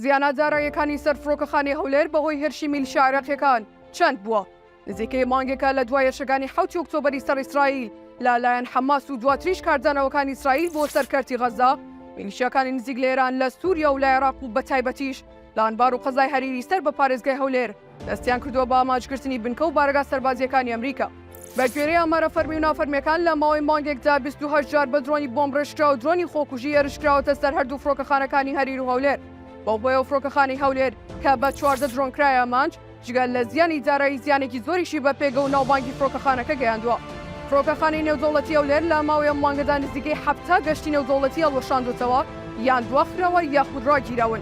زیانە داراییەکانی سەر فڕۆکەخانەی هەولێر بەهۆی هێرشی میلیشیا عێراقییەکان چەند بووە؟ نزیکەی مانگێکە لە دوا هێرشەکانی حەوتی ئۆکتۆبەری سەر ئیسرائیل لە لایەن حەماس و دواتریش کاردانەوەکانی ئیسرائیل بۆ سەر کەرتی غەززە، میلیشیاکانی نزیک لە ئێران لە سووریا و لە عێراق و بەتایبەتیش لە ئەنبار و قەزای هەریری سەر بە پارێزگای هەولێر، دەستیان کردووە بە ئامانجگرتنی بنکە و بارەگا سەربازییەکانی ئەمریکا. بەگوێرەی ئامارە فەرمی و نافەرمییەکان، لە ماوەی مانگێکدا بیست و هەشت جار بە درۆنی بۆمبڕێژکراو و درۆنی خۆکوژی هێرشکراوەتە سەر هەردوو فڕۆکەخانەکانی هەریر و هەولێر. بەو هۆیەوە فڕۆکەخانەی هەولێر کە بە چواردە درۆن کرایە ئامانج، جگە لە زیانی دارایی زیانێکی زۆریشی بە پێگە و ناوبانگی فڕۆکەخانەکە گەیاندووە. فڕۆکەخانەی نێودەوڵەتی هەولێر لە ماوەی ئەم مانگەدا نزیکەی حەفتا گەشتی نێودەوڵەتی هەڵوەشاندووەتەوە، یان دواخراوە یاخود راگیراون.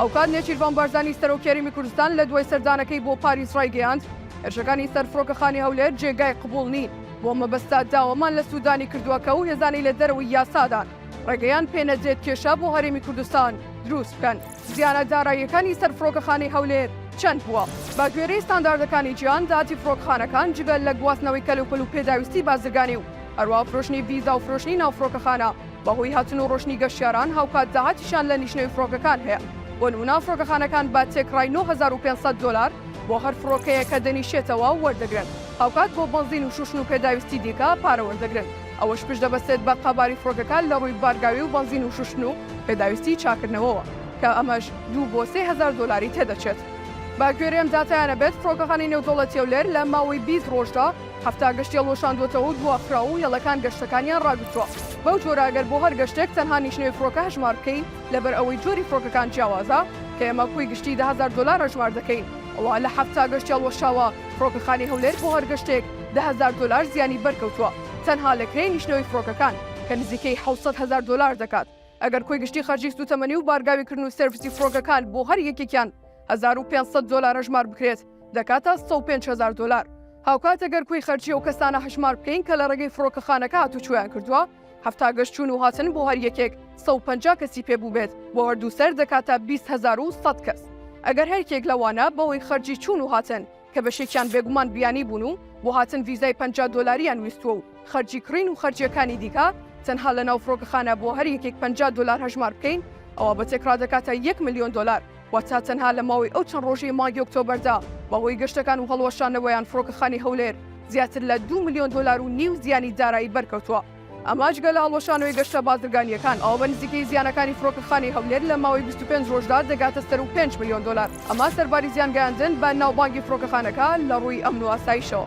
هاوکات نێچیرڤان بارزانی سەرۆکی هەرێمی کوردستان لە دوای سەردانەکەی بۆ پاریس ڕایگەیاند، هێرشەکانی سەر فڕۆکەخانی هەولێر جێگای قبوڵ نین، بۆ مەبەستە داوامان لە سوودانی کردووە کە ئەو هێزانەی لە دەرەوەی یاسادان ڕێگەیان پێ نەدرێت کێشە بۆ هەرێمی کوردستان دروست بکەن. زیانە داراییەکانی سەر فڕۆکەخانەی هەولێر چەند بووە؟ بە گوێرەی ستانداردەکانی جیهان داهاتی فڕۆکەخانەکان جگە لە گواستنەوەی کەلوپەل و پێداویستی بازرگانی و هەروەها فرۆشتنی ڤیزا و فرۆشتنی ناو فڕۆکەخانە، بەهۆی هاتن و ڕۆشتنی گەشتیاران هاوکات داهاتیشیان لە لیژنەی فرۆکەکان هەیە، بۆ نمونە فرۆکەخانەکان بە تێکڕای نۆ هەزار و پێنج سەد دۆلار بۆ هەر فرۆکەیەک کە دەنیشێتەوە وەردەگرن، هاوکات بۆ بەنزین و شوشن و پێداویستی دیکە پارە وەردەگرن، ئەوەش پشت دەبەستێت بە قەباری فرۆکەکان لە ڕووی بارگاوی و بەنزین و شوشتن و پێداویستی چاکردنەوەوە کە ئەمەش دوو بۆ سێ هەزار دۆلاری تێدەچێت. بەگوێرەی ئەم داتایانە بێت فرۆکەخانەی نێودەوڵەتی هەولێر لە ماوەی بیست ڕۆژدا، حەفتا گەشت یەڵ وەشاندووەتەوە و دواخراو و یەڵەکان گەشتەکانیان ڕاگرتووە. بەو جۆرە ئەگەر بۆ هەر گەشتێک تەنها نیشنەوی فڕۆکە هەژمار بکەین، لەبەر ئەوەی جۆری فڕۆکەکان جیاوازە، کە ئێمە کۆی گشتی دە هەزار دۆلار هەژمار دەکەین، ئەوا لە حەفتا گەشت یەڵ وەشاوە، فڕۆکەخانەی هەولێر بۆ هەر گەشتێک دە هەزار دۆلار زیانی بەرکەوتووە، تەنها لە کرێی نیشنەوەی فڕۆکەکان، کە نزیکەی حەوت سەد هەزار دۆلار دەکات. ئەگەر کۆی گشتی خەرجی سووتەمەنی و بارگاویکردن و سێرڤسی فڕۆکەکان بۆ هەر یەکێکیان هەزار و پێنج سەد دۆلار هەژمار بکرێت، دەکاتە سەد و پێنج هەزار دۆلار، هاوکات گەر کۆی خەرجی ئەو کەسانە هەژمار بکەین کە لە ڕێگەی فڕۆکەخانەکە هاتوچۆیان کردووە، حەفتا گەشت چوون و هاتن بۆ هەر یەکێک سەد و پەنجا کەسی پێ بووبێت، بۆ هەردوو سەر دەکاتە بیست هەزار و سەد کەس، ئەگەر هەریەکێک لەوانە بەهۆی خەرجی چوون و هاتن کە بەشێکیان بێگومان بیانی بوون و بۆ هاتن ڤیزای پەنجا دۆلاریان ویستووە و خەرجی کڕین و خەرجییەکانی دیکە تەنها لەناو فڕۆکەخانە بۆ هەر یەکێک پەنجا دۆلار هەژمار بکەین ئەوا بە تێکڕا دەکاتە یەک ملیۆن دۆلار. واتە تەنها لە ماوەی ئەو چەند ڕۆژەی مانگی ئۆکتۆبەردا بەهۆی گەشتەکان و هەڵوەشانەوەیان فڕۆکەخانی هەولێر زیاتر لە دوو ملیۆن دۆلار و نیو زیانی دارایی بەرکەوتووە. ئەمە جگە لە هەڵوەشانەوەی گەشتە بازرگانییەکان، ئەوە بە نزیکەی زیانەکانی فڕۆکەخانی هەولێر لە ماوەی بیست و پێنج ڕۆژدا دەگاتە سەروو پێنج ملیۆن دۆلار، ئەمە سەرباری زیانگەیاندن بە ناوبانگی فڕۆکەخانەکە لە ڕووی ئەمن و ئاسایشەوە.